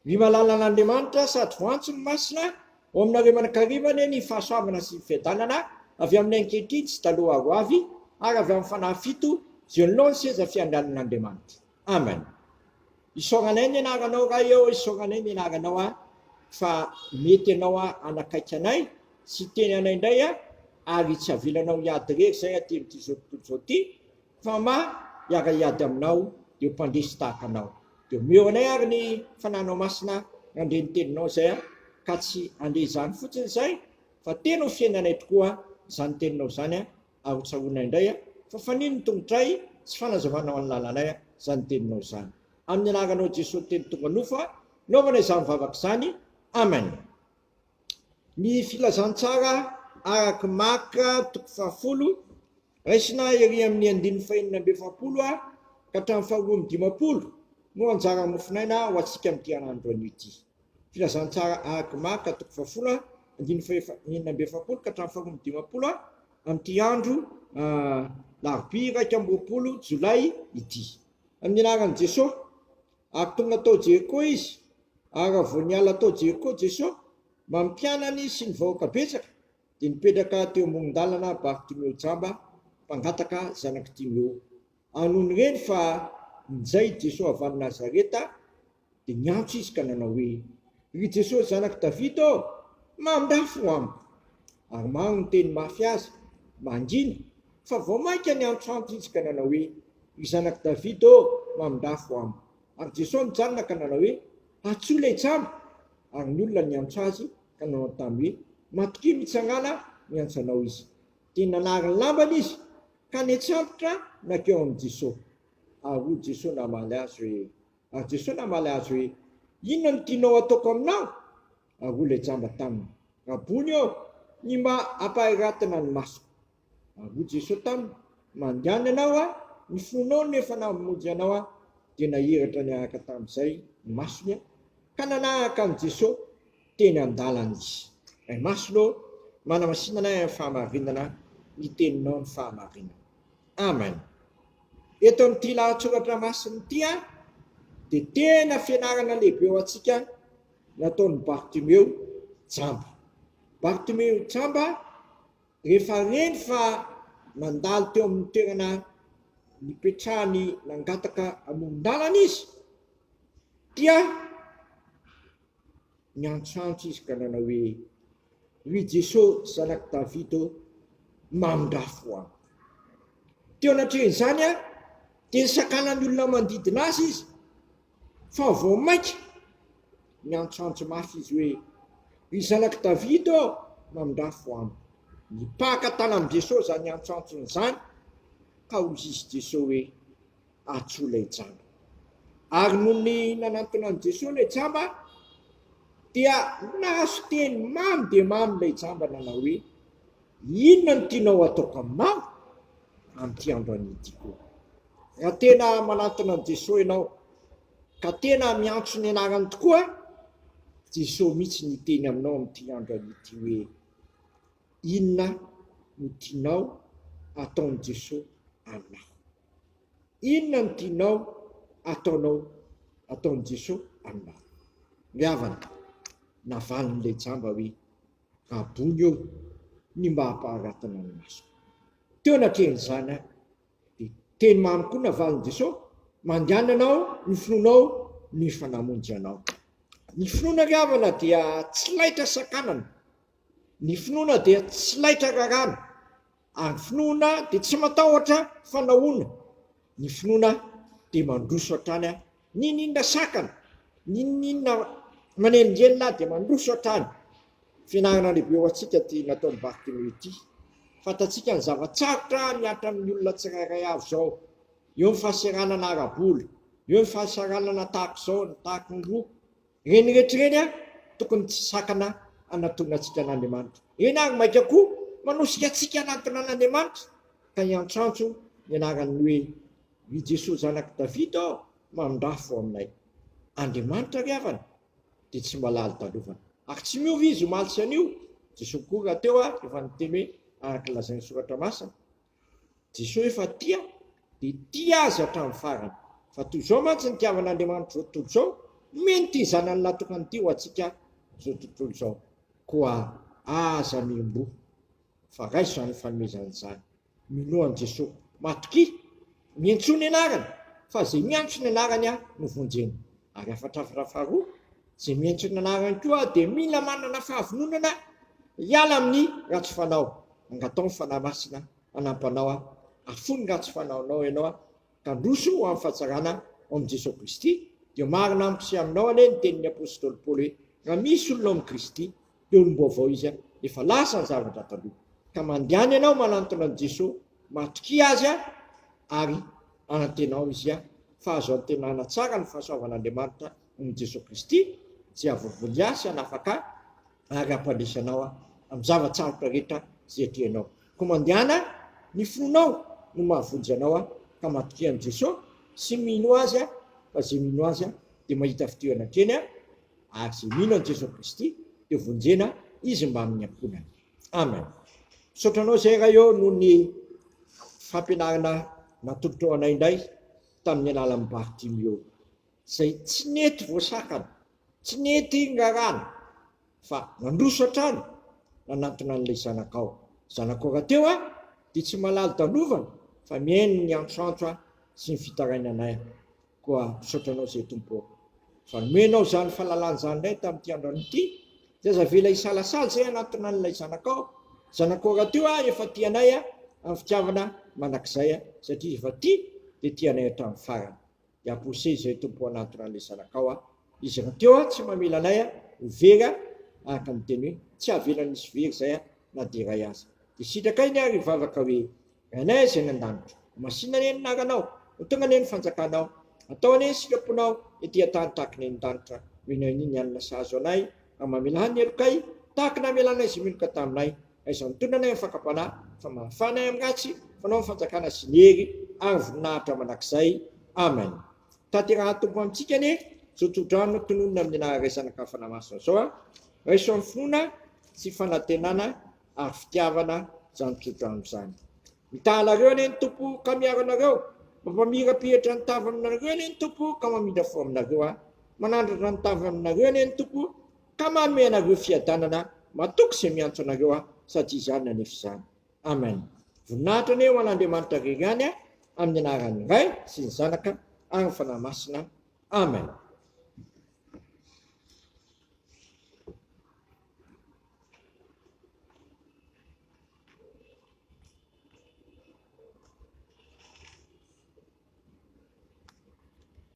Ny malalan'Andriamanitra sady voantso ny masina ao aminareo aman-karivany ny fahasoavana sy ny fiadanana avy amin'ny ankehitriny sy taloha ary hoavy ary avy amin'ny fanahy fito izay anoloa ny seza fiandrianan'Andriamanitra. Amen. Isaoranay ny anaranao Ray ô, isaoranay ny anaranao a, fa mety ianao a hanakaiky anay sy hiteny anay indray a, ary tsy avelanao hiady irery izay aty amin'ity izao tontolo izao ity, Fa ma hiara hiady aminao ireo mpandresy tahaka anao. Dia omeo anay ary ny Fananao Masina nandre ny teninao izay an, ka tsy handre izany fotsiny izay fa tena ho fiainanay tokoa izany teninao izany an, ary ho tsaroanay indray an, fa fanino ny tongotray sy fanazavanao ny lalanay an, izany teninao izany. Amin'ny anaranao Jesoa ny teny tonga nofo an, naovana izany vavaka izany. Amen. Ny filazantsara araka i Marc toko fahafolo, raisina ery amin' ny andininy fahenina amby efapolo ka hatramin'ny faharoa amby dimampolo, no anjara mofinaina ho antsika amin'ity anio anio ity. Filazantsara araka i Marc toko fahafolo, andininy fahenina amby efapolo ka hatramin'ny faharoa amby dimampolo, amin'ity andro alarobia iraika amby roapolo jolay ity. Amin'ny anaran'i Jesoa. ary tonga tao Jeriko izy, ary raha vao niala tao Jeriko Jesoa, mampianany izy sy ny vahoaka betsaka, dia nipetraka teo amoron-dalana Bartimeo jamba, mpangataka, zanak'i Timeo. Ary nony nireny fa ninjay Jesoa avy any Nazareta, dia niantso izy ka nanao hoe, Ry Jesoa zanak'i Davida ô, mandafy ho amiko! ary maro ny miteny mafy azy, mangina, fa vao mainka niantrantr izy ka nanao hoe, Ry Zanak'i Davida ô, mamindafo amiko. Ary Jesoa nijanona ka nanao hoe, Atso ilay jamba! Ary ny olona niantso Azy ka nanontany hoe, Matokia mitsangàna miantso Anao izy. Dia nanary ny lambany izy ka niantsambotra nankeo amin'i Jesoa. Ary hoy Jesoa namaly azy hoe, ary Jesoa namaly azy hoe, Inona no tianao hataoko aminao? ary hoy ilay jamba taminy, Rabony ô, ny mba hampahairatana ny masoko. Ary hoy Jeso taminy, Mandehana ianao a, ny fonao no efa namonjy anao a. Dia nahiratra niaraka tamin'izay ny masony, ka nanaraka an'i Jeso teny an-dalana izy. Ray Masina ô, manamasinana ahy amin'ny fahamarinana ny teninao ny fahamarinana. Amen. Eto amin'ity lahatsoratra masina ity dia tena fianarana lehibe ho antsika nataon'i Bartimeo jamba. Bartimeo jamba, rehefa reny fa nandalo teo amin'ny toerana nipetrahany nangataka amoron-dalana izy, dia niantsoantso izy ka nanao hoe, Ry Jesosy zanak'i Davida ô, mamindrafo ahy. Teo anatrehan'izany dia nisakanan'ny olona manodidina azy izy. Fa vao mainka niantsoantso mafy izy hoe, Ry zanak'i Davida ô, mandrafo amiko! Nipaka tany amin'i Jesoa izany antsoantsony izany, ka hoy izy Jesoa hoe, Atsoa ilay jamba. Ary nony nanantona an'i Jesoa ilay jamba, dia nahazo teny mamy dia mamy ilay jamba nanao hoe, Inona no tianao hataoko aminao amin'ity andro anio ity koa? Raha tena manantona an'i Jesoa ianao ka tena miantso ny anarany tokoa, Jesoa mihitsy no hiteny aminao amin'ity andro an'ity hoe, Inona no tianao ataon'i Jesoa aminao? Inona no tianao ataonao, ataon'i Jesoa aminao? Ry havana, navalin'ilay jamba hoe, Rabony ô, ny mba hampaharatana ny masoko. Teo anatrehan'izany aho. Dia teny mamy koa navalin'i Jesoa, Mandianana aho ny finoanao ny fa namonjy anao. Ny finoana ry havana dia tsy laitra sakanana, ny finoana dia tsy laitra rarana, ary ny finoana dia tsy matahotra fanahoana, ny finoana dia mandroso hatrany Ninoninona sakana, ninoninona manelingelina dia mandroso hatrany. Fianarana lehibe ho antsika ity nataon'i Bartimeo ity. Fantatsika ny zava-tsarotra mihatra amin'ny olona tsirairay avy izao. Eo ny fahasahiranana ara-bola, eo ny fahasahiranana tahaka izao na tahaka ny roa. Ireny rehetra ireny tokony tsy sakana hanatonantsika an'Andriamanitra. Ireny ary mainka koa manosika antsika hanantona an'Andriamanitra ka hiantrantro ny anaran'ny hoe. Ry Jesoa zanak'i Davida ô mandrafo aminay. Andriamanitra ry havana dia tsy mba lali-dalovana. Ary tsy miova Izy omaly sy anio. Jesoa koa rahateo ary efa niteny hoe araka ny lazain'ny soratra masina. Jesoa efa tia dia tia azy hatramin'ny farany. Fa toy izao mantsy ny tiavan'Andriamanitra izao tontolo izao, nomeny ity zanany natokany ity ho antsika izao tontolo izao. Koa aza miomboha fa raiso izany fanomezana izany. Ny lohan'i Jeso. Matokia! Miantsoa ny anarany, fa izay miantso ny anarany Aho no vonjeny. Ary hafatrafatra faharoa, izay miantso ny anarany koa Aho dia mila manana fahavononana hiala amin'ny ratsy fanao. Angataho ny Fanahy Masina hanampanao Aho. Afoy ny ratsy fanaonao ianao Aho. Tandroso ho amin'ny fahatsarana ao amin'i Jesoa Kristy, dia marina amiko sy aminao anie ny tenin'ny apostoly Paoly hoe, Raha misy olona ao amin'i Kristy, dia olom-baovao izy, efa lasa ny zavatra taloha. Ka mandehana ianao manantona an'i Jesoa, matokia Azy ary anantenao Izy fa azo antenaina tsara ny fahasoavan'Andriamanitra noho i Jesoa Kristy, Jehovah Goliasy hanafaka ahy. Ary hampandraisa anao Aho amin'ny zava-tsarotra rehetra izay atrehinao. Koa mandehana ny finoanao no mahavonjy anao Aho, ka matokia an'i Jeso sy mino Azy, fa izay mino Azy dia mahita fidirana an-treny, ary izay mino an'i Jeso Kristy dia vonjena izy mbamin'ny niankohonany. Amen. Misaotra Anao izay Ray ô noho ny fampianarana natolotrao anay indray tamin'ny alalan'i Bartimeo izay tsy nety voasakana Tsy nety iny rarana fa nandroso hatrany nanantona an'ilay zanakao. Zanakao rahateo an, dia tsy malalo dalovana fa mihaino ny antroantro an sy ny fitarainanay an. Koa misaotra anao izay Tompo ô. Fa nomenao izany falalana izany indray tamin'ity andrano ity, dia aza avela hisalasala izay hanantona an'ilay zanakao. Zanakao rahateo an, efa tia anay an, amin'ny fitiavana mandrakizay an, satria efa tia dia tia anay hatramin'ny farany. dia poussez izay Tompo ho anatona an'ilay zanakao a! Izy rahateo a! Tsy mamela anay a! Ho very a! Araka ny teny hoe, tsy hahavelany hisy very izay a! Na dia iray aza. Dia sitraka iny ary hivavaka hoe, Rainay izay any an-danitra, ho masina anie ny anaranao! Ho tonga anie ny fanjakanao! Atao anie ny sitraponao ety an-tany tahaka ny any an-danitra, ho enao iny ny hanina sahazo anay, ary mamelà ny helokay tahaka ny hamelànay izay meloka taminay. Aiza ny tolona nay amin'ny fakam-panahy, fa mahafana ahy amin'ny ratsy, fanao ny fanjakana sy ny hery ary voninahitra mandrakizay. Amen. Tanterahan'ny Tompo amintsika anie izao tsodrano tononina amin'ny naharaisan'ny ankafana masina izao a! Raiso amin'ny finoana sy fanantenana ary fitiavana izany tsodrano izany. Mitaha anareo anie ny Tompo ka miaro anareo, mampamirapihetra ny tavany aminareo anie ny Tompo ka mamindra fo aminareo a! Manandratra ny tavany aminareo anie ny Tompo, Ka manome anareo fiadanana matoky izay miantso anareo aho satria izany anefa izany. Amen. Voninahitra anie ho an'Andriamanitra rery ihany amin'ny anaran'ny Ray sy ny Zanaka ary ny Fanahy Masina. Amen.